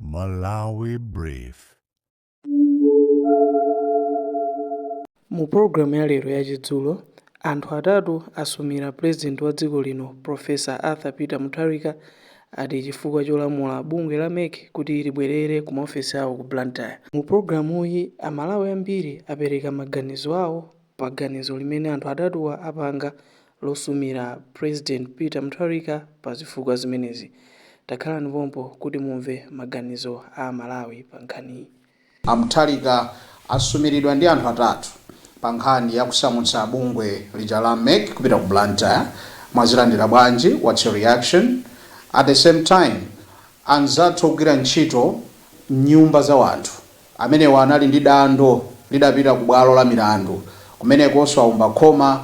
Malawi Brief. Mu program ya lero ya chidzulo, anthu atatu asumira president wa dziko lino Professor Arthur Peter Mutharika ati chifukwa cholamula bungwe la mec kuti libwerere ku maofesi awo ku Blantyre. Mu programuyi, Amalawi ambiri apereka maganizo awo pa ganizo limene anthu atatuwa apanga losumira President Peter Mutharika pa zifukwa zimenezi. Takhalani pompo kuti mumve maganizo a Amalawi pa nkhaniyi. A Mutharika asumiridwa ndi anthu atatu pa nkhani ya kusamutsa bungwe lija la mec kupita ku Blantyre. Mwazilandira bwanji? What's your reaction? At the same time, anzathu ogwira ntchito m'nyumba za wanthu Amenewa anali ndi dando lidapita ku bwalo la milandu. Kumenekonso aomba khoma.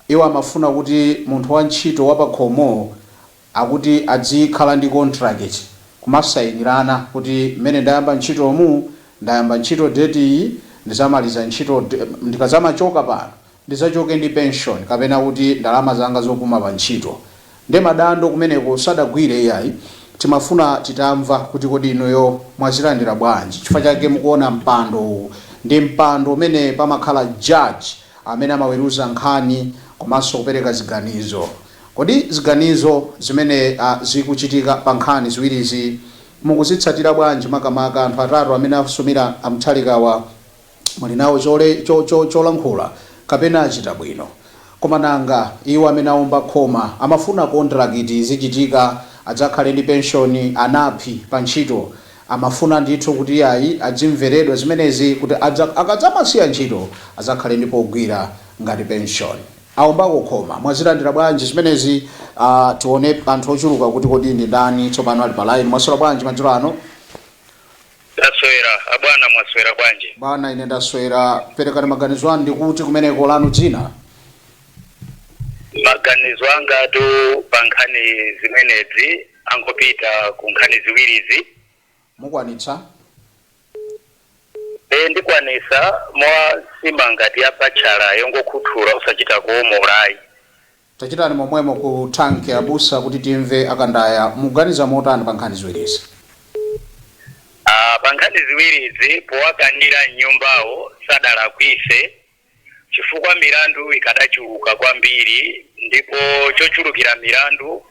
Iwo amafuna kuti munthu wa ntchito wa pa khomo akuti adzikhala ndi kontrakiti, kumasayinirana kuti mmene ndayamba ntchitomu, ndayamba ntchito deti iyi, ndizamaliza ntchito, ndikadzamachoka pano ndizachoke ndi pension kapena kuti ndalama zanga zopuma pa ntchito nde madando kumeneko sadagwire iyayi timafuna titamva kuti kodi inuyo mwazilandira bwanji chifukwa chake mukuona mpando uwu ndi mpando umene pamakhala judge amene amaweruza nkhani komanso kupereka ziganizo kodi ziganizo zimene zikuchitika pa nkhani ziwirizi mukuzitsatira bwanji makamaka anthu atatu amene asumira a Mutharikawa muli nawo chole, cho, cho, cholankhula, kapena achita bwino. Koma nanga iwo amene aomba khoma, amafuna kontirakiti izichitika, adzakhale ndi penshoni, anaphiri, pa ntchito? Amafuna ndithu kuti iyayi adzimveredwa zimenezi kuti adza, akadzamasiya ntchito adzakhale ndi pogwira ngati penshoni. Aombako khoma, mwazilandira bwanji zimenezi? Ah, tione anthu ochuluka kuti kodi ndi ndani tsopano ali pa line. Mwaswera bwanji madzulo ano? Ndaswera abwana mwaswera bwanji? Bwana ine ndaswera, perekani maganizo anu ndikuti kumeneko lanu dzina? Maganizo angatu pa nkhani zimenezi angopita ku nkhani ziwirizi. Mukwanitsa? Ee ndikwanisa, mwa nsima ngati ya batchala yongokhuthula osachita kuomola ayi. Tachitani momwemo ku tank abusa kuti timve akandaya muganiza motani pa nkhani ziwirizi? A, pa nkhani ziwirizi powakanira mnyumbawo sadalakwise chifukwa milandu ikadachuluka kwambiri ndipo chochulukira milandu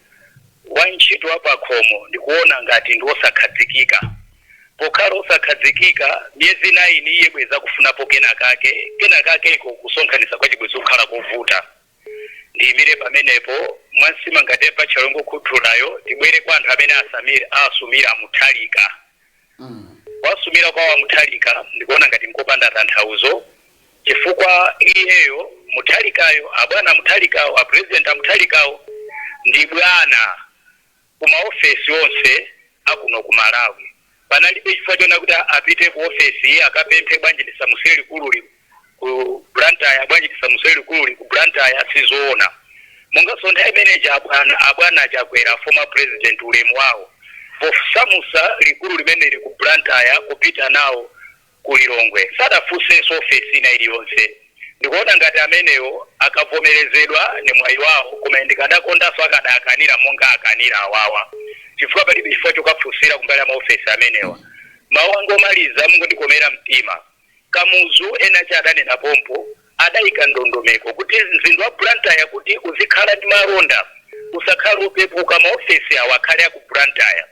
wantchito wapakhomo ndikuona ngati ndiwosakhadzikika pokhala osakhadzikika miyezi 9 iye bwezi akufunapo kenakake, kenakakeko kusonkhanisa kwake bwezi kukhala kovuta. Ndiyimire pamenepo mwa nsima ngati ya batchala ongokhuthulayo tibwere kwa anthu amene asamira asumira a mutharika kuwasumira kwawo a mutharika ndikuona ngati nkopanda tanthauzo chifukwa iyeyo mutharikayo abwana a mutharikawo a president a mutharikawo ndi bwana ku ma ofesi onse a kuno ku Malawi. Panalibe chifukwa chonena kuti apite ku ofesi iyi akapemphe, bwanji tisamusire likululi ku Blantyre, bwanji tisamusire likululi ku Blantyre, sizoona. Mongaso nthawi imene ija abwana, abwana a Chakwera, former president, ulemu wawo posamusa likulu limeneli ku Blantyre kupita nawo. ku Lilongwe sadafunsenso ofesi ina iliyonse. Ndikuona ngati amenewo akavomerezedwa ndi mwayi wawo koma ine ndikadakondanso akadaakanira monga akanira awawa chifukwa palibe chifukwa chokafunsira kumbali ya maofesi amenewa. Mawu anga omaliza, mungondikomera mtima. Kamuzu ena aja adanena pompo. Adaika ndondomeko kuti mzinda wa Blantyre kuti uzikhala ndi malonda, usakhale wopepuka, maofesi awa akhale a ku Blantyre.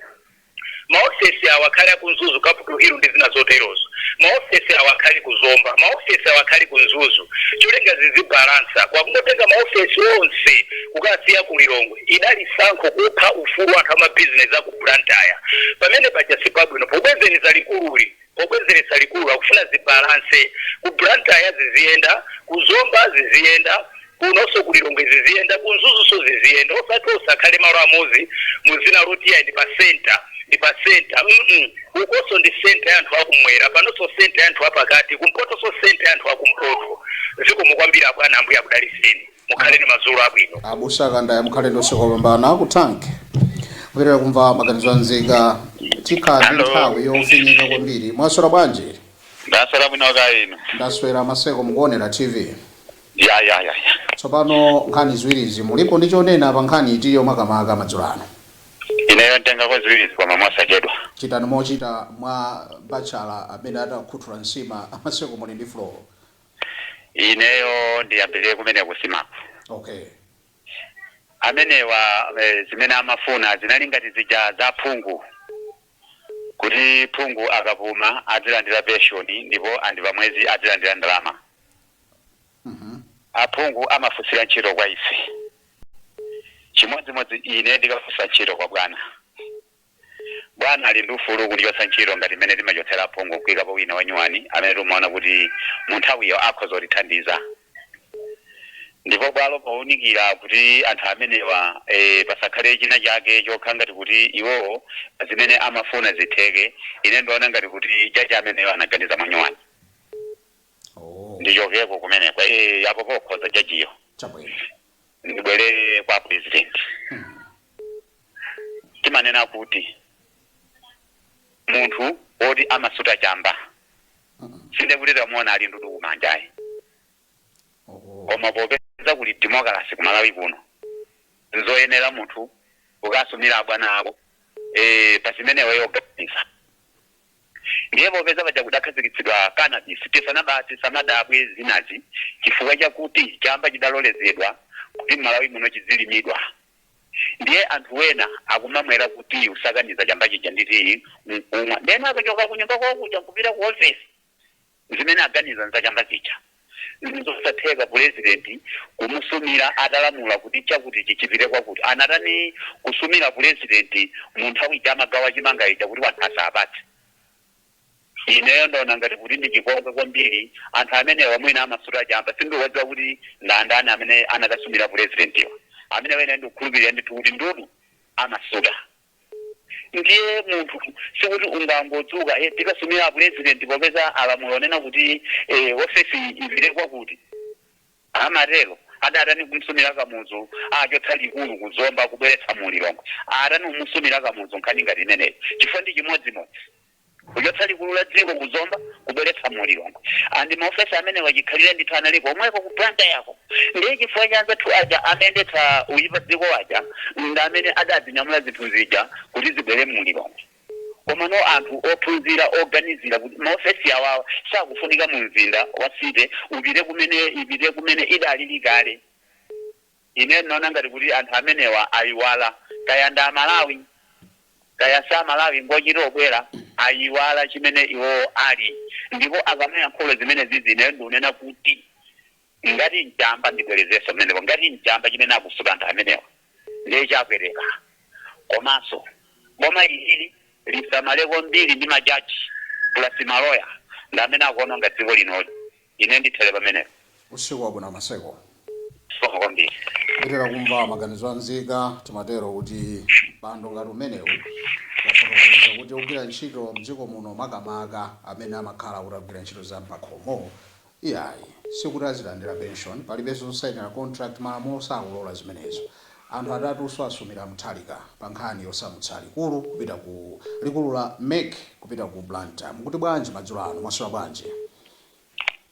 Ma ofesi awa akhale aku Mzuzu, Capital Hill ndi zina zoterozo. Ma ofesi awa akhale ku Zomba. Ma ofesi awa akhale ku Mzuzu. Cholinga zizibalansa. Koma kungotenga ma ofesi onse kukasiya ku Lilongwe idali sankho kupha ufulu wa anthu a ma business aku Blantyre. Pamene paja sipabwino. Pobwezereza likululi. Pobwezeretsa likulu akufuna zibalanse. Ku Blantyre ziziyenda, ku Zomba ziziyenda, kunonso ku Lilongwe ziziyenda, ku Mzuzunso ziziyenda osati onse akhale malo amodzi mu dzina loti iyayi ndi pa centre ndi pa centre mm ukonso ndi centre ya anthu akumwera panonso centre ya anthu apakati kumpotonso centre ya anthu akumpoto. Zikomo kwambiri abwana Ambuye akudalitseni. mukhale ndi madzulo abwino abusa kandaya mukhale ndi usiku wopambana ku tank kuyenera kumva maganizo anzika tikhala ndi Hello. nthawi yofinyika kwambiri mwaswera bwanji ndaswera bwino kaya inu ndaswera maseko mukuonera tv ya ya ya ya tsopano nkhani ziwirizi mulipo ndi chonena pa nkhani itiyo makamaka madzulo ano ineyo nditengako ziwirizi koma mosachedwa chitani mochita mwa bachala amene atakhuthula nsima a maseko muli ndi floor Ineyo ndiyambire kumene ku Simaku. Okay. Amenewa eh, zimene amafuna zinali ngati zija za phungu kuti phungu akapuma adzilandira penshoni ndipo andi pamwezi adzilandira ndalama. Aphungu amafunsira ntchito kwa ife, chimodzimodzi ine ndikafunsa ntchito kwa bwana. Bwana ali ndi ufulu wokundichotsa ntchito ngati mmene timachotsera aphungu n'kuikapo wina wanyuwani amene timaona kuti munthawiyo akhoza kutithandiza ndipo bwalo pounikira kuti anthu amenewa pasakhale chinachake chokhala ngati kuti iwowo zimene amafuna zitheke, ine ndiona ngati kuti jaji ameneyo anaganiza mwanyuwani. Ndichokeko kumeneku? Eeh, apo pokhoza jajiyo. Chabwino. Ndibwerere kwa apulezidenti. timanena kuti munthu woti amasuta chamba sindiye kuti tamuona ali ndudu kumanja ayi Oho. koma popeza kuli demokalasi kumalawi kuno nzoyenera munthu kukasumira abwana ako eh, pa chimene iweyo uganiza ndiye popeza paja kudakhazikitsidwa cannabis tisadabwe tisamadabwe zinazi chifukwa chakuti chamba chidalolezedwa kuti mmalawi muno chidzilimidwa ndiye anthu wena akumamwera ku tiyi kusakaniza chamba chija ndi tiyi nkumwa ndiyeno akachoka kunyumba kwawo kuja nkupita ku ofesi zimene aganiza nza chamba chija ndizosatheka pulezidenti kumusumira atalamula kuti chakuti chipite kwakuti anatani kusumira pulezidenti mu nthawi ija amagawa chimanga ija kuti wanthu asapatse Ineyo ndaona ngati kuti ndi chipongwe kwambiri anthu amenewa mwina amasuta chamba sindiwadziwa kuti ndandani amene anakasumira pulezidentiwa amenewa ine ndikukhulupilira ndithu kuti ndudu amasuta ndiye munthu sikuti ungangodzuka eh, tikasumira pulezidenti popeza alamula onena kuti eh, ofesi ipite kwakuti Amatero adatani kumsumira Kamuzu achotsa likulu ku Zomba kubweretsa mu Lilongwe? Atani kumusumira Kamuzu nkhani ngati imeneyo chifukwa ndi chimodzimodzi kuchotsa likulu la dziko ku Zomba kubweretsa mu Lilongwe and ma ofesi amenewa chikhalire ndithu anali komweko ku Blantyre ko ndiye chifukwa cha anzathu aja amayendetsa moipa dziko aja ndamene adadzinyamula zinthu zija kuti zibwere mu Lilongwe. Komano anthu ophunzira oganizira kuti maofesi awawa akufunika mu mzinda wa city upite kumene ipite kumene idalili kale ine ndinaona ngati kuti anthu amenewa ayiwala kaya ndi amalawi kaya si amalawi ngochita obwera ayiwala chimene iwowo ali ndipo akamayankhula zimenezizi ineyo ndikunena kuti Ngati nchamba ndibwelezeso pamenepo ngati nchamba chimene akusuta anthu amenewa ndiye chapweteka komaso boma ilili lisamale kwambiri ndi ma judge plus ma lawyer ndi amene akuononga dziko linoli ine ndithele pamenepo. Usiku wabwino Maseko. Zikomo kwambiri. Kutero kumva maganizo a nzika timatero kuti ndemanga ngati umenewu wafotokoza kuti ogwira ntchito mdziko muno makamaka amene amakhala kuti akugwira ntchito za mpakhomo, Iyayi, sikuti azilandira pension, palibenso zosainira contract, malamulo sakulola zimenezo. Anthu atatu asumira Mutharika pa nkhani yosamutsa likulu kupita ku likulu la MEC kupita ku Blantyre. Mukuti bwanji madzulo ano? Mwaswera bwanji?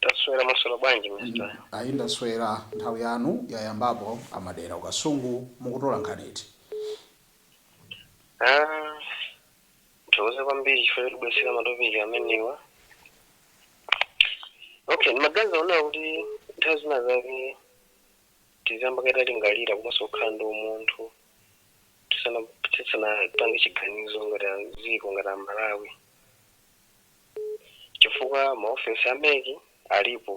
Taswera, mwaswera bwanji Mr. Ndaswera, nthawi yanu yayambapo a Madera ku Kasungu, mukutola nkhani iti? Aaa. Ndithokoze kwambiri chifukwa chotibweretsera matopiki amenewa. Okay, ndimaganiza ndikuona kuti nthawi zina zake tiziyamba kaye talingalira komanso kukhala ndi umunthu tisana tisanapange chiganizo ngati dziko ngati a Malawi chifukwa maofesi a MEC alipo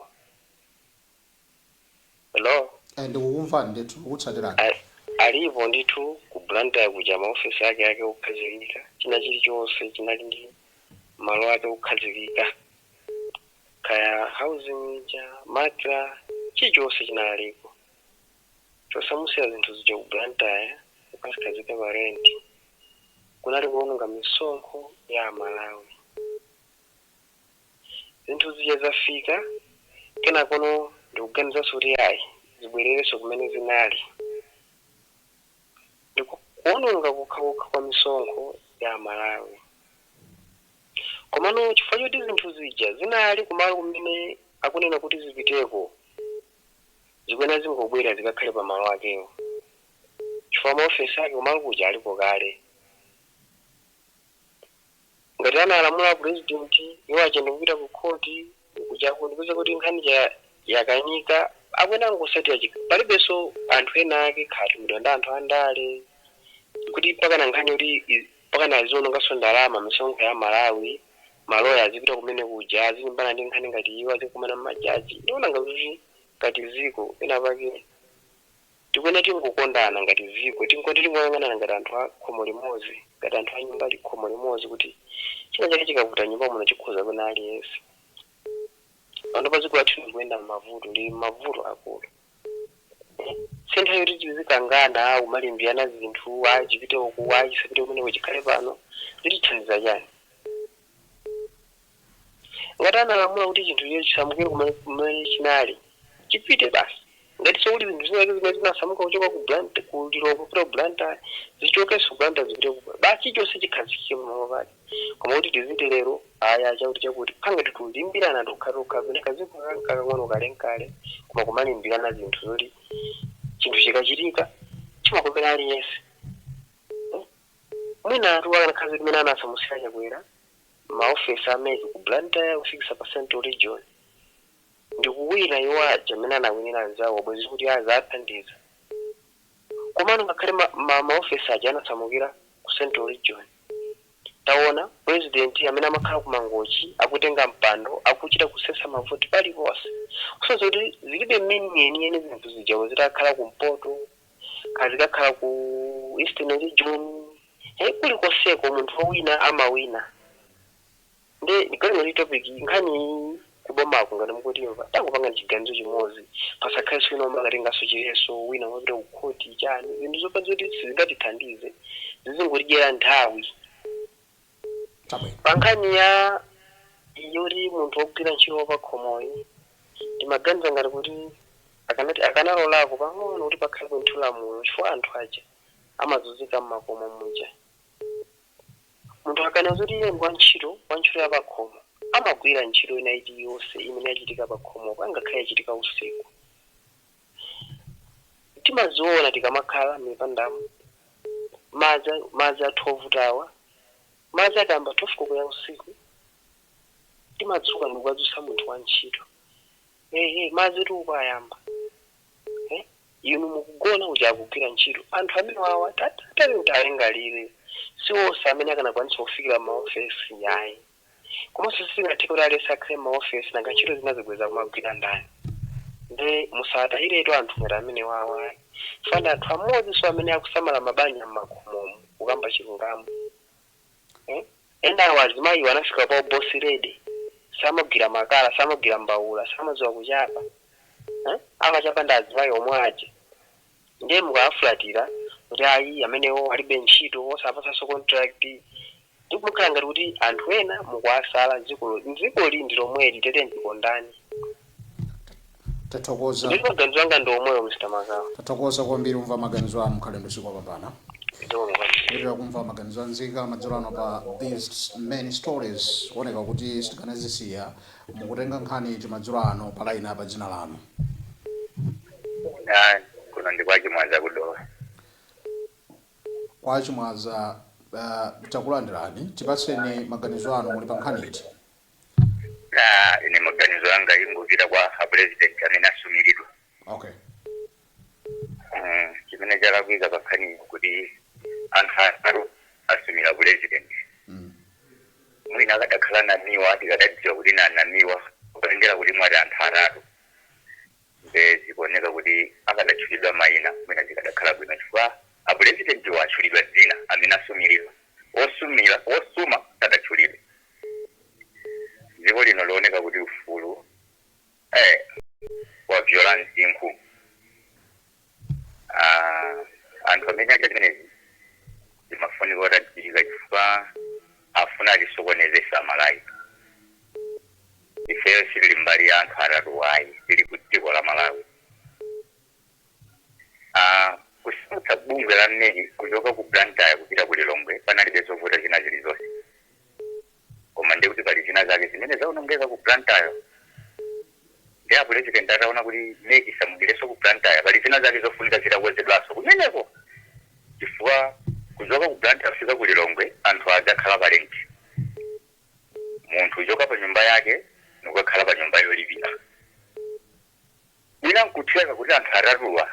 hello Eh, ndikukumvani ndithu ndikukutsatirani A- alipo ndithu ku Blantyre kuja maofesi ake ake okhazikika china chilichonse chinali ndi malo ake okhazikika kaya housing ija matra chilichonse chinalipo chosamutsira zinthu zija ku Blantyre kukazikhazika pa renti kunali kuononga misonkho ya aMalawi zinthu zija zafika kenakono ndikuganizanso kuti ayi zibwererenso kumene zinali ndi ku- kuononga kokhakokha kwa misonkho ya aMalawi komano chifukwa choti zinthu zija zinali kumalo kumene akunena kuti zipiteko zikuyenera zingobwerera zikakhale pa malo akewo chifukwa maofesi ake kumalo kuja aliko kale Ngati analamula a president iwo aja ndikupita ku court kuja n'kupeza kuti nkhani ija yakanika akuyenera kungotsatira chik palibenso anthu ena ake kaya atumidwa ndi anthu a ndale kuti mpakana nkhani yoti i- mpakana aziononganso ndalama misonkho ya Malawi maloya azipita kumene kuja azilimbana ndi nkhani ngati iwo azikumana ndi majaji ndiona ngati kuti ngati dziko pena pake Tikuyenera tingokondana ngati dziko, tingoti tingoyang'anana ngati anthu a khomo limodzi, ngati anthu a nyumba li, khomo limodzi kuti china chake chikavuta m'nyumba muno chikhuza wina aliyense. Panopa dziko lathu likuyenda m'mavuto, lili m'mavuto akulu. Si nthawi yoti tizikangana, kumalimbirana zinthu, ayi chipite uku, ayi chisapite kumeneko chikhale pano. Zitithandiza chani? Ngati analamula kuti chinthu china chisamukire kumene chinali, chipite basi. Ngatinso kuli zinthu zina zake zimene zinasamuka kuchoka ku Blantyre, ku Lilongwe kupita ku Blantyre, zichokenso ku Blantyre zipite ku, basi chilichonse chikhazikike pamalo pake. Koma kuti tiziti lero ayi a chakuti chakuti, kukhala ngati tikulimbirana tokha tokha kapena kadziko kake n'kakang'ono kale n'kale koma kumalimbirana zinthu zoti chinthu chikachitika chimakomera aliyense. Mwinatu akanakhala zoti mmene anasamutsira Chakwera, ma office a MEC ku Blantyre kufikisa pa central region ndikuwina iwo aja amene anawinira anzawo bwezi kuti aziwathandiza komano ngakhale ma office aja anasamukira ku central region taona president amene amakhala ku Mangochi akutenga mpando akuchita kusesa mavoti paliponse kusonyeza kuti zilibe meaning yeniyeni zinthu zijazo zitakhala kumpoto kaya zikakhala ku eastern region he kulikoseko munthu owina amawina nde ndiganiza kuti topic nkhani kubomako ngati mukutimva tangopangani chiganizo chimodzi pasakhalenso wina womakatenganso chiletso wina amapita ku khoti chani zinthu zopanda zoti sizingatithandize zizingotidyera nthawi Chabwino. Pa nkhani ya iyo yoti munthu wogwira ntchito wapakhomoyu, ndimaganiza ngati kuti akanalolako pang'ono kuti pakhalepo ndithu lamulo chifukwa anthu aja amazunzika m'makomo muja. Munthu akanena zoti iye ndi wantchito, wantchito wapakhomo amagwira ntchito ina iliyonse imene yachitika pakhomopo, ngakhale yachitika usiku. timaziona tikamakhala m'mipandamo. Madzi, madzi athu ovutawa, madzi akayamba 12 koloko ya usiku, timadzuka ndi kukadzutsa munthu wantchito. Ehe, madzitu uku ayamba. Eh, inu mukugona kuja akugwira ntchito. Anthu amenewawa tatiyeni tilingalire, si onse amene akanakwanitsa kufikira m'maofesi ayi. komanso sizingatheke kuti aliyense akhale mmaofesi nanga ntchito zinazi bwenzi akumagwira ndani nde musawatayiretu anthu ngati amenewawa ayi chifukwa ndi anthu amodzinso amene akusamala mabanja mmakomomo kukamba chilungamo eh? enawo azimayiwo anafika pa uboss lady samagwira makala samagwira mbawula samadziwa kuchapa eh? amachapa ndi azimayi omwe aja Ndiye mukawafulatira kuti ayi amenewo alibe ntchito osawapatsanso contract ndipokhala ngati kuti anthu ena mukuwasala dzikoli ndi lomweli tete ndikondani tathokoza ndiye maganizo anga ndi omwewo Mr Magawa tathokoza kwambiri tamva maganizo anu mukhale ndi usiku wapambana tikupitiriza kumva maganizo a nzika madzulo ano pa these many stories kuoneka kuti sitikanazisiya Mukutenga nkhani iti madzulo ano pa line apa dzina lanu? Ah, kuno ndi kwa Chimwaza ku Dowa. Kwa Chimwaza uh, takulandirani tipatseni maganizo anu muli pa nkhani iti? Ah, ine maganizo anga akupita kwa a president amene asumiridwa. Okay. Mm, chimene chalakwika pankhani kuti anthu atatu asumira president Mm. mwina akadakhala namiwa tikadadziwa kuti nanamiwa kutengera kuti mwati anthu atatu nde zikuoneka kuti akadatchulidwa maina mwina zikadakhala bwino chifukwa apurezidenti watchulidwa dzina amene asumiridwa osumira osuma sadatchulidwe dziko lino looneka kuti ufulu Eh, wabvyola msinkhu Ah, anthu amene achita zimenezi zimafunika kuti adziwike chifukwa afuna atisokonezese amalawi ifeyo sitili mbali ya anthu atatuwa ayi tili ku dziko la malawi Ah, kusuntha bungwe la meki kuchoka ku blantyre kupita ku lilongwe panalibe zovuta zina zilizonse koma ndiye kuti pali zina zake zimene zaonongeka ku blantyre ndi apulezidenti ataona kuti meki isamukireso ku blantyre pali zina zake zofunika zitakonzedwaso kumeneko chifukwa kuchoka ku blantyre kufika ku lilongwe anthu adzakhala pa lenti munthu uchoka pa nyumba yake nukakhala pa nyumba yolipira Mwina nkutheka kuti anthu atatuwa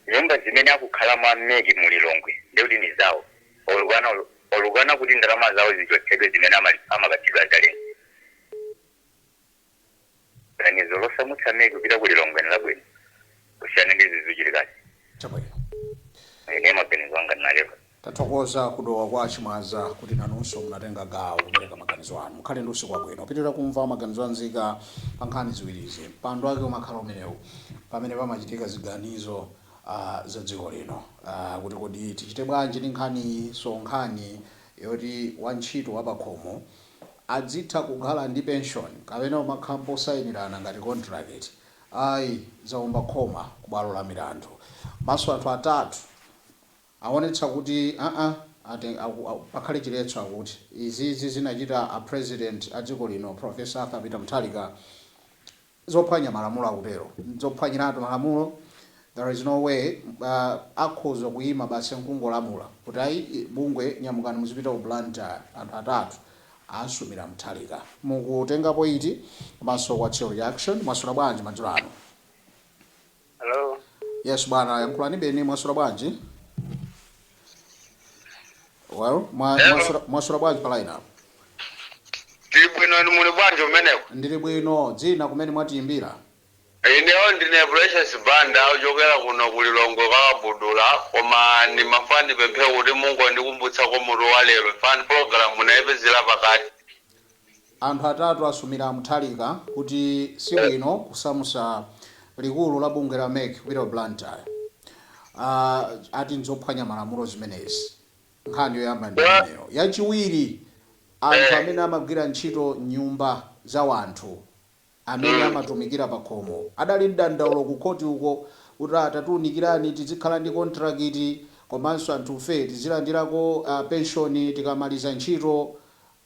nyumba zimene akukhalamo a mec mu Lilongwe ndiye kuti ndi zawo olukana olukana kuti ndalama zawo zichotsedwe zimene amalipira amapatsidwa za lenti. Ganizo losamutsa mec kupita ku Lilongwe nlabwino kusiyana ndi izi zikuchitikazi. Chabwino. Ine maganizo anga ndinalero. Tathokoza ku Dowa kwa Chimwaza kuti nanunso munatenga gawo kupereka maganizo anu. Mukhale ndi usiku wabwino. Tipitiriza kumva maganizo a nzika pa nkhani ziwirizi. Mpando wake umakhala umenewu pamene pamachitika ziganizo za dziko lino kuti kodi tichite bwanji ndi nkhaniyi so nkhani yoti wa ntchito wa pakhomo adzitha kukhala ndi pension kapena kumakhalapo kusayinirana ngati kontrakiti ayi zaomba khoma ku bwalo la milandu. Komanso anthu atatu. Awonetsa kuti aa aten aku aku pakhale chiletso akuti izizi zimene achita a president adziko lino professor Arthur Peter Mutharika zophwanya malamulo akutero ndzophwanyiratu malamulo there is no way uh akhoza kuyima basi nkungolamula kuti ayi bungwe nyamukani muzipita ku Blantyre anthu atatu asumira Mutharika mukuitengapo iti komanso what's your reaction mwaswera bwanji madzulo ano. Hello. Yes bwana, yankhulani beni mwaswera bwanji? Well, mwa, Hello. mwaswera, mwaswera bwanji pa line apo? Ndili bwino inu muli bwanji kumeneko? Ndili bwino, dzina kumene mwatiyimbira. Ineyo ndine Precious Banda ochokera kuno ku Lilongwe kwa Kabudula koma ndimafuna ndipemphe kuti mungondikumbutsako mutu wa lero chifukwa program ndaipezera pakati. Anthu atatu asumira a Mutharika kuti sibwino kusamusa likulu la bungwe la mec kupita ku Blantyre. Ati n'zophwanya malamulo zimenezi. Nkhani yoyamba ndi imeneyo. Yachiwiri, anthu amene amagwira ntchito m'nyumba za wanthu amene amatumikira pakhomo adali ndi dandaulo ku khoti uko kuti atatiunikirani tidzikhala ndi kontrakiti komanso anthufe tidzilandirako ah penshoni tikamaliza ntchito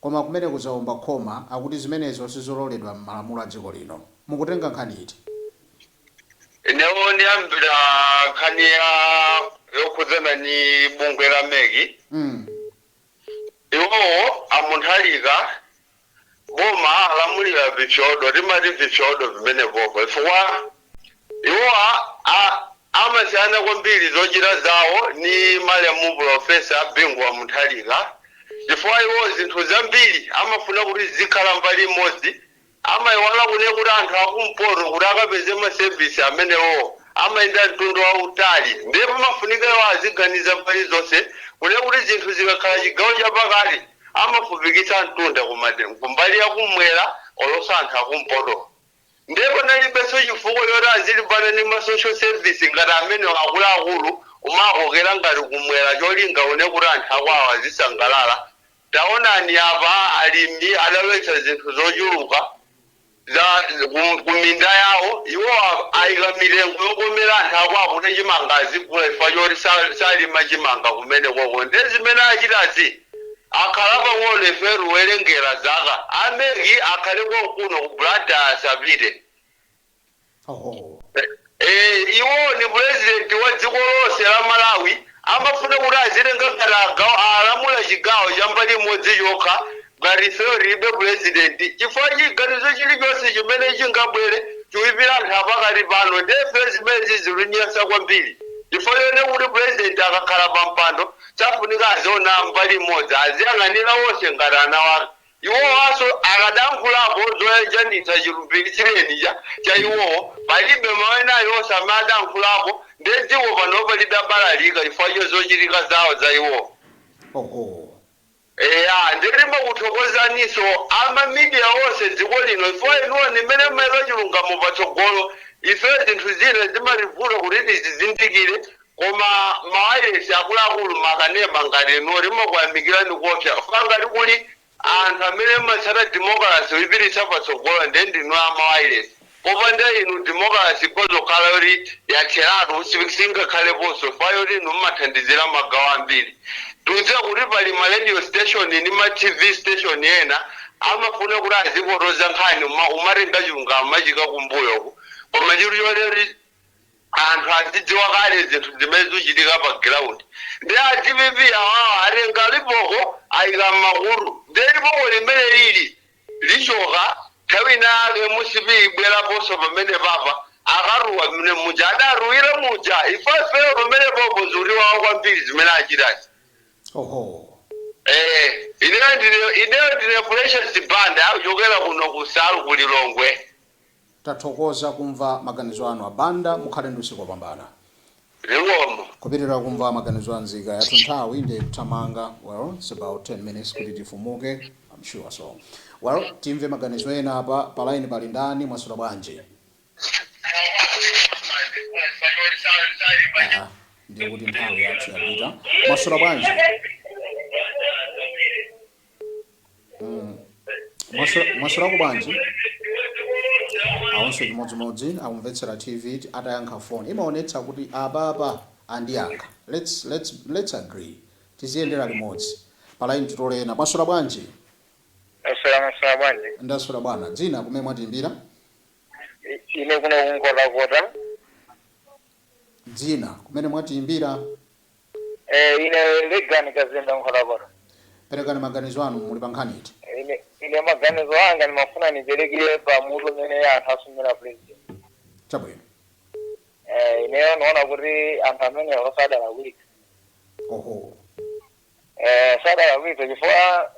koma kumeneko zaomba khoma akuti zimenezo sizololedwa mmalamulo a dziko lino. Mukutenga nkhani iti? Inewo ndiyambira nkhani ya yokhudzana ndi bungwe la mec. Mm. Iwowo a Munthalika boma alamulira vipyodo timati vipyodo vimenevo chifukwa iwowa a amasiyana kwambiri zochita zawo ni malemu pulofesa Bingu wa Munthalika chifukwa iwo zinthu zambiri amafuna kuti zikhala mbali imodzi amaiwala kune kuti anthu akumpoto kuti akapeze masevisi amenewo amayenda mtundu wautali ndiye pamafunika iwo aziganiza mbali zonse kune kuti zinthu zikakhala chigawo chapakati amafupikitsa mtunda ku madera kumbali ya kumwera olonso anthu akumpoto ndiye panalibenso chifukwa choti azilimbana ndi ma social service ngati amenewo akuluakulu kumakokera ngati kumwera cholinga une kuti anthu akwawo azisangalala taonani apa alimi adalowetsa zinthu zochuluka za ku- ku minda yawo iwo a- ayika mitengo yokomera anthu akwawo kuti chimanga azigula chifukwa choti sa- salima chimanga kumene koko ndi zimene achitazi akhala pang'ono ife tiwerengera zaka a mec akhale konkuno ku Blantyre asapite Eee iwo ni president wa dziko lonse la Malawi amafuna kuti azidzitenga ngati agaw alamula chigawo cha mbali imodzi chokha ngati ifeyo tilibe president chifukwa chiganizo chilichonse chimene chingabwere chiipira anthu apakati pano ndiye ifeyo zimenezi zikutinyansa kwambiri chifukwa choti kuti president akakhala pampando safunika aziona mbali imodzi aziyang'anira onse ngati ana wake Iwowanso akadankhulapo zoyanjanitsa chilumbiritsireni cha cha iwowo palibe mawu ena alionse amene adankhulapo ndiye dziko panopa lidabalalika chifukwa cha zochitika zawo za iwowo. Oho. Eya ndiye timakuthokozaninso ama media onse m'dziko lino chifukwa inuyo ndi amene mumayika chilungamo patsogolo ifeyo zinthu zina zimatibvuta kuti tizizindikire Koma mawailesi akuluakulu m'makanema ngati inu timakuyamikirani koopsa chifukwa ngati kuli anthu amene amatsata demokalase kuipititsa patsogolo ndiye ndinu a mawailesi. Popanda inu demokalase ikhoza kukhala yoti yatheratu, singakhaleponso chifukwa choti inu mumathandizira magawo ambiri. Tikudziwa kuti pali ma radio station ndi ma TV station ena amafuna kuti azipotoza nkhani koma kumatenga chilungamo kumachiika kumbuyo uku koma chilipo choti. anthu azidziwa kale zinthu zimene zikuchitika pa ground ndiye a dpp awawa atenga lipoko ayika mmakutu ndiye lipoko limene lili lichoka nthawi ina yake mcp ibweraponso pamenepapa akalira mmene muja adalirira muja ife ifeyo pamenepopo zikutiwawa kwambiri zimene achitazi Oho. eh ineyo ndine ineyo ndine precious banda akuchokera kuno ku saru ku lilongwe Tathokoza kumva maganizo anu a Banda mukhale ndi usiku opambana. Zikomo. Kupitirira kumva maganizo a nzika yathu nthawi nde ikuthamanga well its about 10 minutes kuti tifumuke am sure so well timve maganizo ena apa pa line pali ndani mwaswera bwanji? Aaa ndiye kuti nthawi yathu yapita mwaswera bwanji? Mm. Mwaswera- mwaswerako bwanji awonso chimodzimodzi akumvetsera tv ti- atayankha foni imaonetsa kuti apapa andiyankha let's, let's, let's agree tiziyendera limodzi palaini titole ena mwaswera bwanji Mwaswera mwaswera bwanji. ndaswera bwana dzina kumene mwatiimbira I- Ine kuno ku Nkhotakota. dzina kumene mwatiimbira Eh, ine legani kazinda Nkhotakota perekani maganizo anu muli pa nkhani iti ine ine maganizo anga ndimafuna niperekire pa mutu umene anthu asumira president chabwino eh, ineyo niona kuti anthu amenewo sadalakwitsa oho eh, sadalakwitsa chifukwa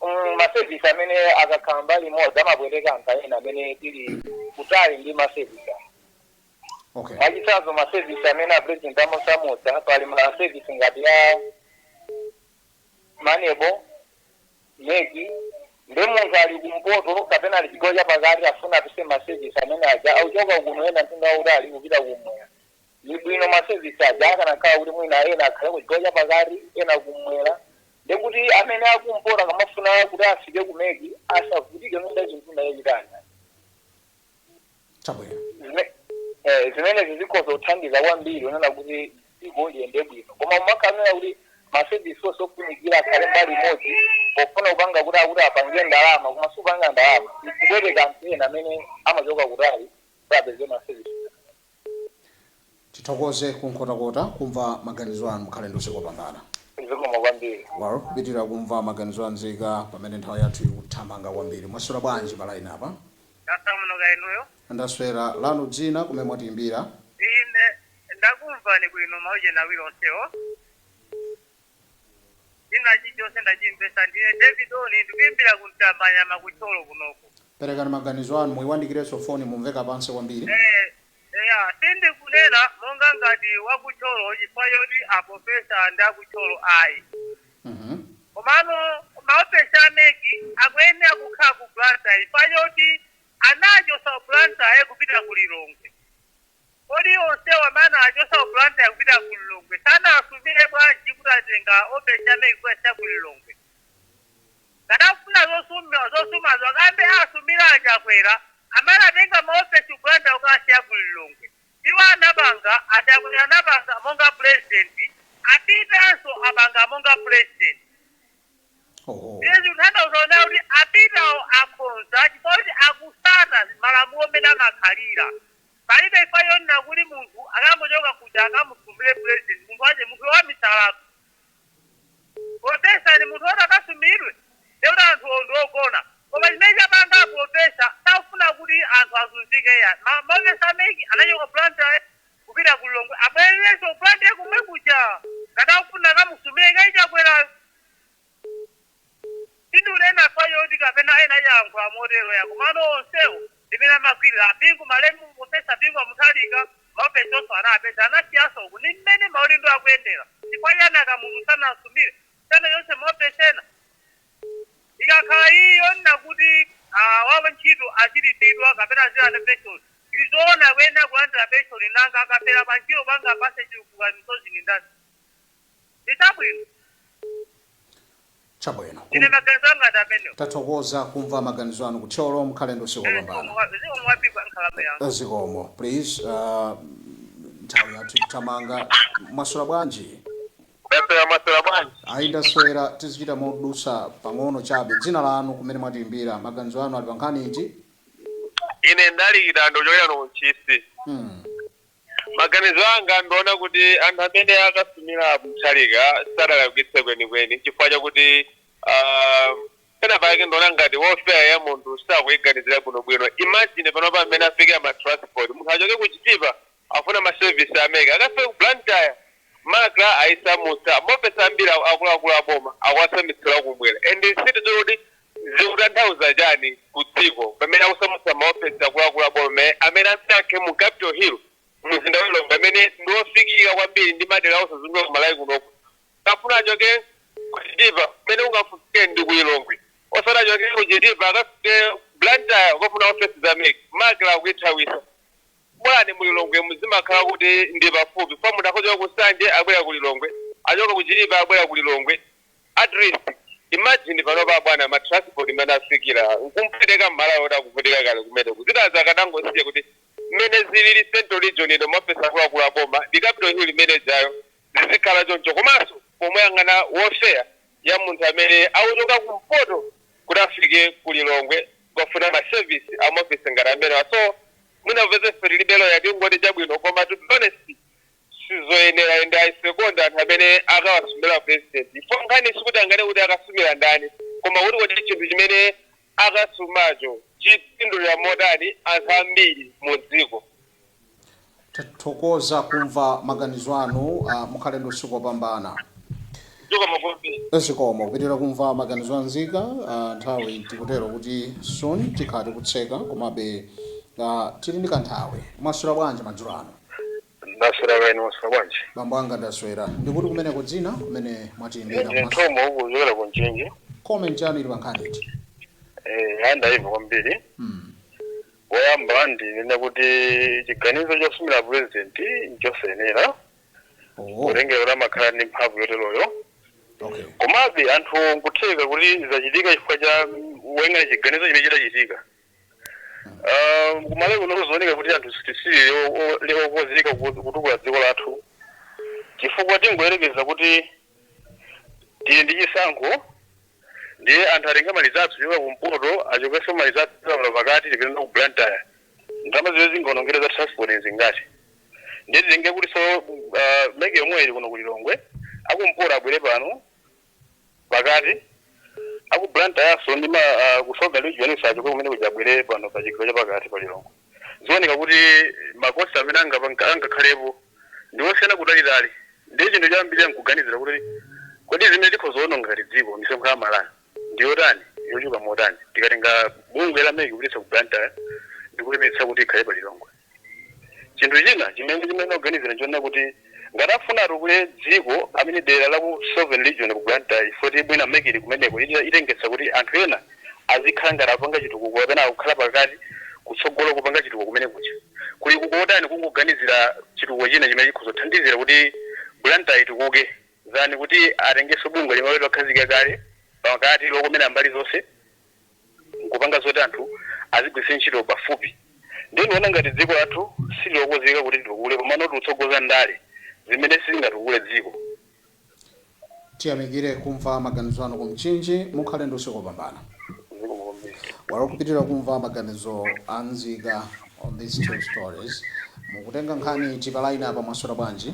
mm, masevisi amene akakhala mbali imodzi amapweteka anthu ena amene tili kutali ndi masevisi awo. okay mwachitsanzo ma service amene a president amasamusa pali ma service ngati ya maneb mec ndiye munthu ali kumpoto kapena ali chigawo cha pakati afuna apeze ma service amene aja akuchoka kuno yenda mtunda wautali kupita kumwera ni bwino ma service aja akanakhala kuti mwina ena akhale ku chigawo cha pakati ena kumwera ndiye kuti amene akumpoto akamafuna kuti afike ku mec asavutike nodazintunda yachitanda chabwino Zime- eh, zimenezi zikhoza kuthandiza kwambiri kunena kuti dziko liyende bwino koma kumakakamira kuti masevisi onse ofunikira akhale mbali imodzi pofuna kupanga kuti akuti apange ndalama koma sikupanga ndalama ikupweteka anthu ena amene amachoka kutali kuti apeze masevisi Tithokoze ku Nkhotakota kumva maganizo anu mukhale ndi usiku opambana. Zikomo kwambiri. Well kupitilira kumva maganizo a nzika pamene nthawi yathu ikuthamanga kwambiri. Mwaswera bwanji pa line apa? Ndaswera bwino kaya inuyo? Ndaswera, lanu dzina kumene mwatiyimbira? Ine ndakumvani bwino ma ujeni awiri onsewo. china chilichonse ndachimvesa ndine david oni ndikuimbira ku Mtambanyama ku Thyolo kunoko perekani maganizo anu muyiwandikirenso foni mumveka pansi kwambiri Eh, eya sindikunena monga ngati wa ku Thyolo chifukwa choti a professor ndi a ku Thyolo ayi Mhm. komano maofesi a MEC akuyenera kukhala ku blantyre chifukwa choti anachosa blantyre kupita ku lilongwe Kodi onsewa amene anawachosa ku Blantyre kupita ku Lilongwe sanawasumire bwanji kuti atenga ofesi ya MEC kubweretsa ku Lilongwe? Ngati akufuna zosuma zosumazo akayambe asumira a Chakwera amene anatenga ma ofesi ku Blantyre kukawasiya ku Lilongwe. Iwo anapanga, a Chakwera anapanga monga president, a Peter'nso apanga monga president. Oho. Izi zikutanthauza kunena kuti a Peter'wo akhonza chifukwa choti akusata malamulo mmene amakhalira. Palibe chifukwa chonena kuti munthu akangochoka kuja akamusumire president munthu wache munthuyo wamisalatu professor si munthu oti akasumilidwe ndiye kuti anthuwo ndi ogona koma chimene chapanga a professor sakufuna kuti anthu azunzike iya ma ofesi a MEC anachoka ku blantyre kupita ku lilongwe abwererenso ku blantyre komwe kuja ngati akufuna akamusumile kaye chakwerayo Sindunena chifukwa choti kapena ena ayankhula motero ya komano onsewo ndi mmene amagwirira a Bingu malemu Professor Bingu wa Mutharika ma ofesiwonso anawapeza anasiyanso uku ndi mmene maudindo akuyendera chifukwa chiyani a Kamuzu sanasumire china chilichonse ma ofesi ena ikakhala iyi yonena kuti a wa ntchito azilipidwa kapena azilandira pension ndi zoona akuyenera kulandira pension nanga akafera pa ntchito banja apase chipukuta misozi ndi ndani? ndi zabwino chabwino ine Kum- maganizo anga ndi amenewo tathokoza kumva maganizo anu kuthyolo mukhale ndi usiku wopambana zikomo wapikwa nkhalamba yanga zikomo please uh, nthawi yathu ikuthamanga mwaswera bwanji Ndaswera mwaswera bwanji? ayi ndaswera tizichita modusa pang'ono chabe dzina lanu kumene mwatiimbira maganizo anu ali pa nkhani iti Ine ndali chitando kuchokera kuno Ntchisi. hmm. Maganizo anga nduona kuti anthu amene akasumira a Mutharika sadalakwitse kwenikweni chifukwa chakuti uh, pena pake nduona ngati welfare ya munthu sakuiganizira bwinobwino. Imagine panopa mmene afikira ma transport, munthu achoke ku Chitipa afuna ma service a mec akafike ku Blantyre macra aisamutsa, maofesi ambiri akuluakulu a boma akuwasamitsira kumwera and sitidziwa kuti Zikutanthauza chani ku dziko pamene akusamutsa ma ofesi akuluakulu a boma amene anasankha mu Capital Hill mumzinda wa Lilongwe amene ndi ofikika kwambiri ndi madera osazungulika ku Malawi kunoku. Akafuna achoke ku Chitipa pamene ungafike ndi ku Lilongwe osati achoke ku Chitipa akafike ku Blantyre kukafuna ofesi za MEC. MACRA akuithawisa. Bwana mu Lilongwe muzimakhala kuti ndi pafupi chifukwa munthu akhoza kuchoka ku Nsanje akubwera ku Lilongwe, achoka ku Chitipa akubwera ku Lilongwe. Atleast imagine panopa bwana ma transport mmene afikira nkumpweteka mmalawi woti akuvutika kale kumeneku zinazi akanangosiya kuti mmene zilili central region ino maofesi akuluakulu aboma ndi Capital Hill imene ijayo zizikhala choncho komanso pomuyang'ana welfare ya munthu amene akuchoka kumpoto kuti afike ku Lilongwe kukafuna ma service amaofesi ngati amenewa so mwina popeza ife tilibe lawyer tingoti chabwino koma to be honest sizoyenera and i second anthu amene akawasumira president chifukwa nkhani sikuti angane kuti akasumira ndani koma kuti kodi chinthu chimene akasumacho chipindulira motani anthu ambiri mu dziko tathokoza kumva maganizo anu uh, mukhale ndi usiku wopambana zikomo kupitiriza kumva maganizo anzika uh, nthawi tikutero kuti soon tikhala tikutseka komabe uh, tili ndi kanthawi mwaswera bwanji madzulo ano ndaswera kaya inu mwaswera bwanji bambo anga ndaswera ndikuti kumeneko dzina kumene mwatiimbira ndi komanso Mtombo uku kuchokera ku Mchinji comment yanu ili pa nkhani iti Eh, andaiva kwambiri Mm. woyamba ndinene kuti chiganizo chosumira purezidenti nchosayenera Oh, kutengera kuti amakhala ndi mphamvu yoteroyo okay. komabe anthu nkutheka kuti zachitika chifukwa cha woyang'anira chiganizo chimene chidachitika Ah, ku Malawi kuno kukuoneka kuti anthu sitili okonzeka kutukula dziko lathu chifukwa tingoyerekeza kuti tili ndi chisankho ndiye anthu atenge ma result kuchoka kumpoto achokenso ma result kuchoka pano pakati tipite nawo ku Blantyre ndalama zimene zingaonongedwe za transport zingati ndiye titenge kuti so ah, MEC yomwe ili kuno ku Lilongwe akumpoto abwere pano pakati aku Blantyrenso ndi ma ah, ku Southern region achoke kumene kuja abwere pano pa chigawo cha pakati pa Lilongwe zioneka kuti ma cost amene angapa- anga- angakhalepo ndi osiyana kutalitali ndiye chinthu choyambirira nkuganizira kuti kodi zimene tikhoza kuononga ngati dziko misonkho ya Amalawi ndi yotani yochuluka motani tikatenga bungwe la MEC kupititsa ku Blantyre ndikuyerekeza kuti ikhale pa Lilongwe Chinthu china chimene timayenera kuganizira nchonena kuti ngati akufuna atukule dziko I mean dera la ku southern region ku Blantyre chifukwa choti mwina mec ili kumeneko itengetsa kuti anthu ena azikhala ngati akupanga chitukuko kapena akukhala pakati kutsogolo kupanga chitukuko kumene kuja kuli ku kotani kungoganizira chitukuko china chimene chikhoza kuthandizira kuti Blantyre itukuke than kuti atengenso bungwe limene lakhazikika kale pakati lokomera mbali zonse. nkupanga zoti anthu azigwiritsa ntchito pafupi ndiye ndikuona ngati dziko lathu sililokonzeka kuti litukule komano tikutsogoza ndale zimene sizingatukule dziko. Tiyamikire kumva maganizo anu ku Mchinji. Mukhale ndi usiku opambana. Zikomo kwambiri. Well kupitilira kumva maganizo a nzika on these two stories. Mukutenga nkhani iti pa line apa mwaswera bwanji?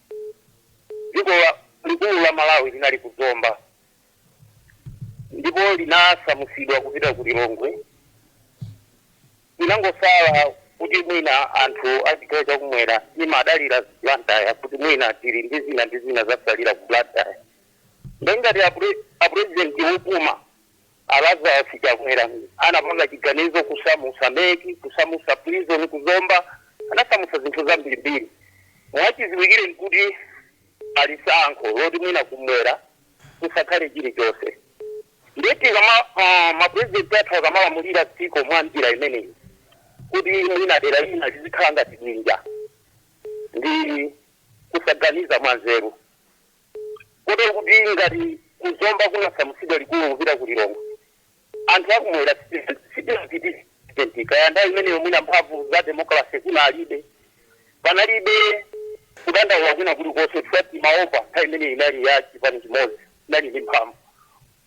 Dziko likulu la Malawi linali ku Zomba ndipo linasamusidwa kupita ku Lilongwe. Linangosala kuti mwina anthu a chigawo cha kumwera timadalira Blantyre kuti mwina tili ndi zina ndi zina zatsalira ku Blantyre. Nde ngati a president opuma. A Lazarus Chakwera anapanga chiganizo kusamusa mec, kusamusa prison ku Zomba, anasamusa zinthu zambiri mbiri. Mwachiziwikire nkuti ali ndi tsankho loti mwina kumwera kusakhale chilichonse. Ndiye tikama ma president athu akamalamulira dziko mwa njira imeneyi kuti mwina dera lina lizikhala ngati bwinja ndi kusaganiza mwa nzeru. Kotero kuti ngati ku Zomba kunasamusidwa likulu kupita ku Lilongwe, anthu a kumwera sitinachitire represent. Kaya nthawi imeneyo mwina mphamvu za democracy kunalibe. Panalibe kudandaula kwina kuli konse chifukwa timaopa nthawi imeneyo inali ya chipani chimodzi chinali ndi mphamvu.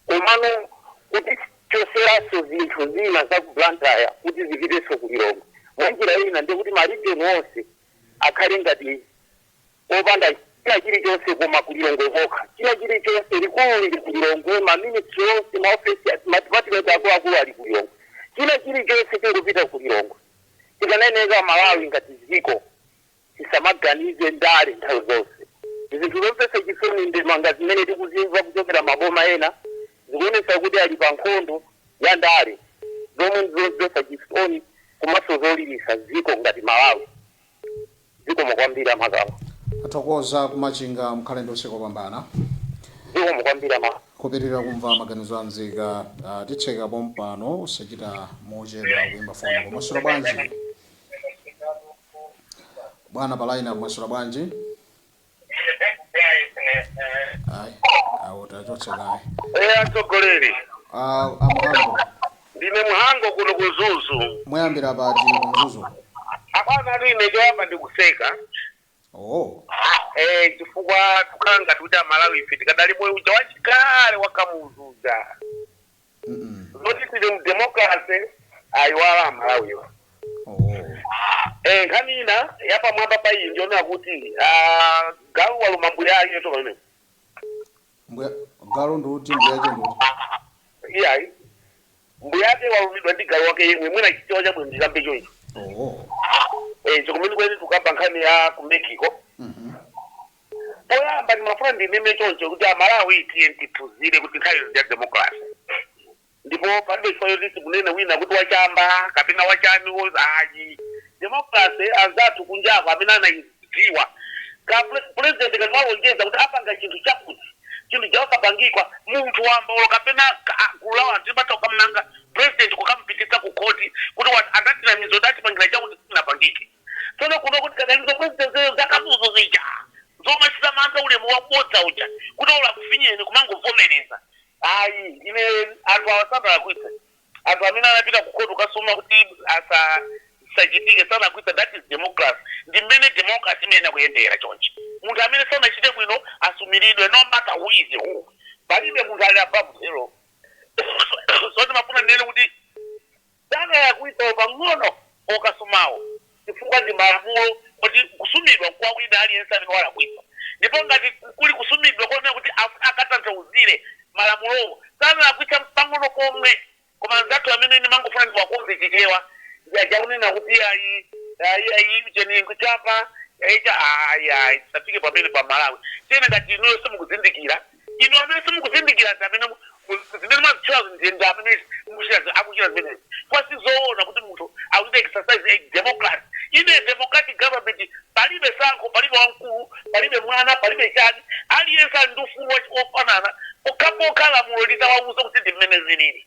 Komano kutichotseranso zinthu zina za ku Blantyre kuti zipitenso ku Lilongwe mwa njira ina ndiye kuti ma region onse akhale ngati. opanda china chirichonse koma ku Lilongwe kokha, china chirichonse, likulu liri ku Lilongwe, ma ministry onse, ma ofesi, ma department akuluakulu ali ku Lilongwe, china chirichonse chingopita ku Lilongwe. Tikamanena Malawi ngati dziko tisamaganize ndale nthawi zonse. Ndi zinthu zomvetsa chisoni ndemanga zimene tikuzimva kuchokera maboma ena zikuonetsa kuti ali pa nkhondo ya ndale zomwe ndi zomvetsa chisoni komanso zoliritsa dziko ngati Malawi. Zikomo kwambiri amakama. Tathokoza ku Machinga mukhale ndi usiku opambana. Zikomo kwambiri amakama. Kupitilira kumva maganizo a nzika titseka pompano osachita mochedwa kuimba foni. Apa mwaswera bwanji bwana pa line apa mwaswera bwanji. ayi awo tachotsa kaye eya atsogoleri Ah, amhango ndine mhango kuno kumzuzu mwayambira pati kumzuzu apana atu ine choyamba ndikuseka oh eh, chifukwa tukhala ngati kuti amalawi ife tikadali moyo uja wachikale wakamuzu uja zoti tili mdemokrase ayiwala amalawiwa Eh, nkhani ina yapamwamba pa iyi ndiona kuti ah, galu waluma mbuya ake yotoka imene mbuya galu ndi uti mbuya ake ndi uti iyayi mbuya ake walumidwa ndi galu wake yemwe mwina chichewa chabwino ndikambe choncho oh. eh, chikumene kwene tukamba nkhani ya ku mexico Poyamba ndimafuna ndinene choncho kuti a Malawi tiyeni tiphunzire kuti nthawi ino ndi ya democracy ndipo palibe chifukwa choti timunene wina kuti wa chamba kapena wa chani wo ayi. Democracy anzathu kunjako amene anaidziwa kuti president ngati walonjeza kuti apanga chinthu chakuti chinthu chija osapangika munthu wamba olo kapena ka gulu la anthu limatha kukamnena president kukamupititsa ku court kuti wat anatinamiza kuti atipangira chakuti sichinapangike. Tsono kunoko tikadali zomwe zijazo za Kamuzu zija zomachita mantha ulemu wabodza uja kuti olo akufinyeni kumangovomereza. Ayi ine anthu awa sanalakwitse. Anthu amene anapita ku court kukasuma kuti izi zisachitike sanalakwitse that is democracy. Ndi mmene democracy imayenera kuyendera chonchi. Munthu amene sanachite bwino asumiridwe no matter who is who. Palibe munthu ali above the law. So ndimafuna ndinene kuti. Sanalakwitse olo pang'ono okasumawo chifukwa ndi malamulo oti kusumidwa nkwa wina aliyense amene walakwitsa ndipo ngati kuli kusumidwa konena kuti afuna akatanthauzire malamulowo sanalakwitse mpang'ono pomwe koma anzathu amene ndimangofuna ndiwakonze chichewa ndi aja akunena kuti iyayi iyayi ujeni chamba icha ayi ayi tisafike pamenepo amalawi tinene kuti inuyo simukuzindikira Inu amene simukuzindikira ndi amene mu- mu- zimene mwazitchulazo ndi ndi amene mukuchita zi- akuchita zimenezi. Chifukwa si zoona kuti munthu akuchita exercise a democracy. In a democratic government palibe tsankho, palibe wamkulu, palibe mwana, palibe chani. Aliyense ali ndi ufulu wa- wofanana pokhapokha lamulo litawauza kuti ndi mmene zilili.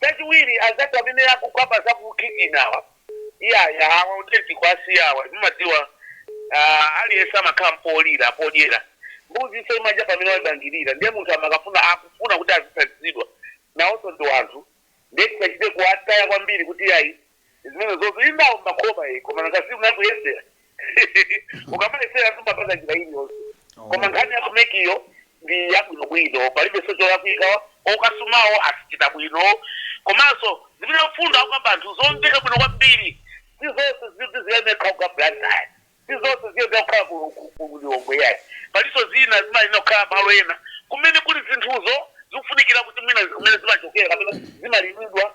Chachiwiri anzathu amene akugwa pa za ku kukitchen awa iyaya awa authentic kwasi awa mumadziwa aah aliyense amakhala ndi polowera podyera mbuzinso imadya pamene waimangirira ndiye munthu amakafuna akufuna kuti azithandizidwa nawonso ndi wanthu ndiye tisachite kuwataya kwambiri kuti iyayi zimenezotu indawo makhoma iyi koma nanga si unakuyesera ukamayesera sumapanga njira iliyonse koma nkhani ya kumekiyo ndi yabwinobwino palibenso cholakwika okasumawo achita bwino komanso zimene mfundo akukamba anthu zomveka bwino kwambiri si zonse zikuti ziyenera kukhala blantyre si zonse ziyenera kukhala ku- ku- ku lilongwe yayi palinso zina zimayenera kukhala malo ena kumene kuli zinthuzo zikufunikira kuti mwina kumene zimachokera kapena zimalimidwa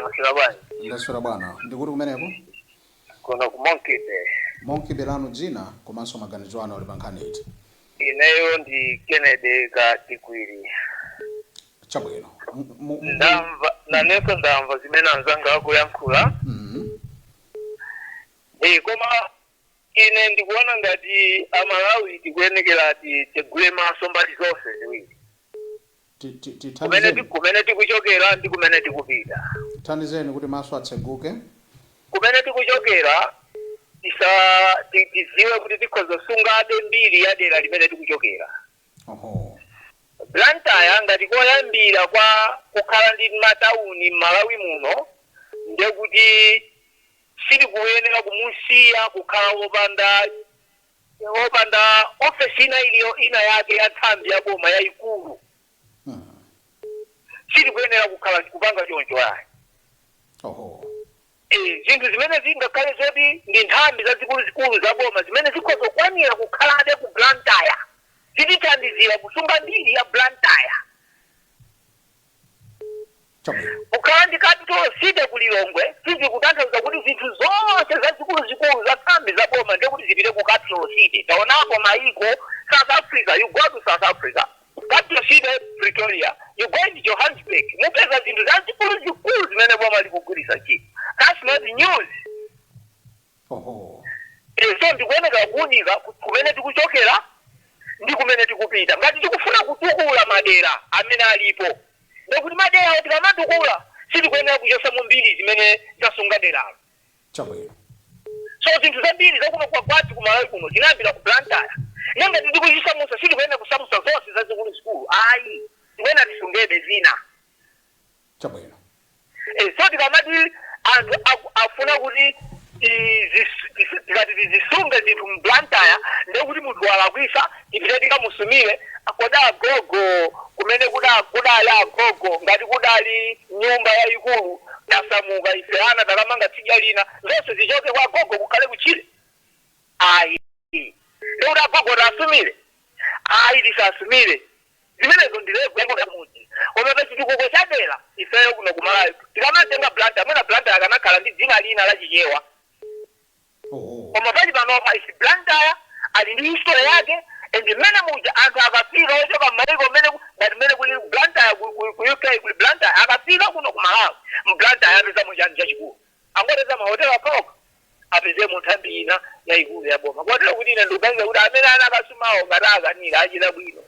Mwaswera bwanji? Ndaswera bwana. Ndi kuti kumeneko? Kuno ku Monkey Bay. Monkey Bay lanu dzina komanso maganizo anu ali pa nkhani iti? Ineyo ndi Kennedy Katikwiri. Chabwino. M- m- m- Ndamva nanenso ndamva zimene anzanga akuyankhula. Mhm. Eh, koma ine ndikuona ngati amalawi tikuyenekera titsegule maso mbali zonse ziwiri Ti- ti- ti- kumene ti- tithandizeni kumene tikuchokera ndi kumene tikupita tithandizeni kuti maso atseguke kumene tikuchokera tisa ti- tidziwe kuti tikhoza kusungabe mbiri ya dera limene tikuchokera oho blantyre ngati koyambira kwa kukhala ndi matawuni m'malawi muno ndekuti sitikuyenera kumusiya kukhala wopanda opanda ofesi ina iliyo ina yake ya nthambi ya boma yayikulu sitikuyenera kukhala kupanga choncho ayi oho Eh, zinthu zimene zingakhale zoti ndi nthambi zazikuluzikulu za boma zimene zikhoza kukwanira kukhalabe ku blantyre zitithandizira kusunga mbiri ya blantyre Chabwino. Kukhala ndi capital city ku Lilongwe sizikutanthauza kuti zinthu zonse zazikuluzikulu za nthambi za boma ndiye kuti zipite ku capital city. Taonapo maiko, South Africa, you go to South Africa, capital city Pretoria, you go to Johannesburg, mupeza zinthu zazikuluzikulu zimene boma likugwiritsa ntchito. That's not news. So tikuyenera kuunika ku, kumene tikuchokera ndi kumene tikupita. Ngati tikufuna kutukula madera amene alipo, ndiye kuti maderawo tikamatukula sitikuyenera kuchotsamo mbiri zimene zasunga deralo. So zinthu zambiri za kuno kwathu ku Malawi kuno zinayambira ku Blantyre, ndiye ngati tikuzisamutsa sitikuyenera kusamutsa zonse zazikulu zikulu ayi, tikuyenera tisungebe zina. Chabwino. E, so tikamati anthu aku, afuna kuti tizis- tisi- tikati tizisunge zinthu mu Blantyre ndiye kuti munthu walakwisa tipite tikamusumire koma agogo kumene kuda kudali agogo ngati kudali nyumba yayikulu tasamuka ife ana takamanga tsidya lina zonse zichoke kwa agogo kukhale kutchire ayi ndikuti agogo tasumire ayi tisasumire Zimenezo ndi level yakumudzi koma pa chitukuko cha dera ifeyo kuno ku Malawi tikamatenga Blantyre mwina Blantyre akanakhala ndi dzina lina la Chichewa koma pali panopa its Blantyre ali ndi history yake and mmene muja anthu akafika ochoka mmayiko mmene ngati mmene kulili ku Blantyre ku UK kuli Blantyre akafika kuno ku Malawi m'Blantyre apezamo chani chachikulu? Angoteza mahotelo okhaokha apezemo nthambi ina yaikulu ya boma kotero kuti ine ndikuganiza kuti amene anakasumawo ngati akanira achita bwino.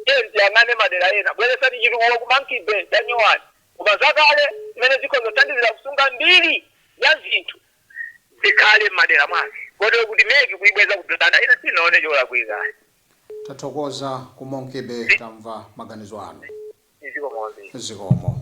Tiyeni tiyang'ane madera ena. Bweretsani chitukuko ku Monkey Bay, tanyowani. Koma zakale zimene zikhoza kuthandizira kusunga mbiri ya zinthu zikhale m'madera mwake kotero kuti mec kuibweza ku Blantyre ine sinaone cholakwika ayi. Tathokoza ku Monkey Bay tamva maganizo anu. Zikomo kwambiri. Zikomo.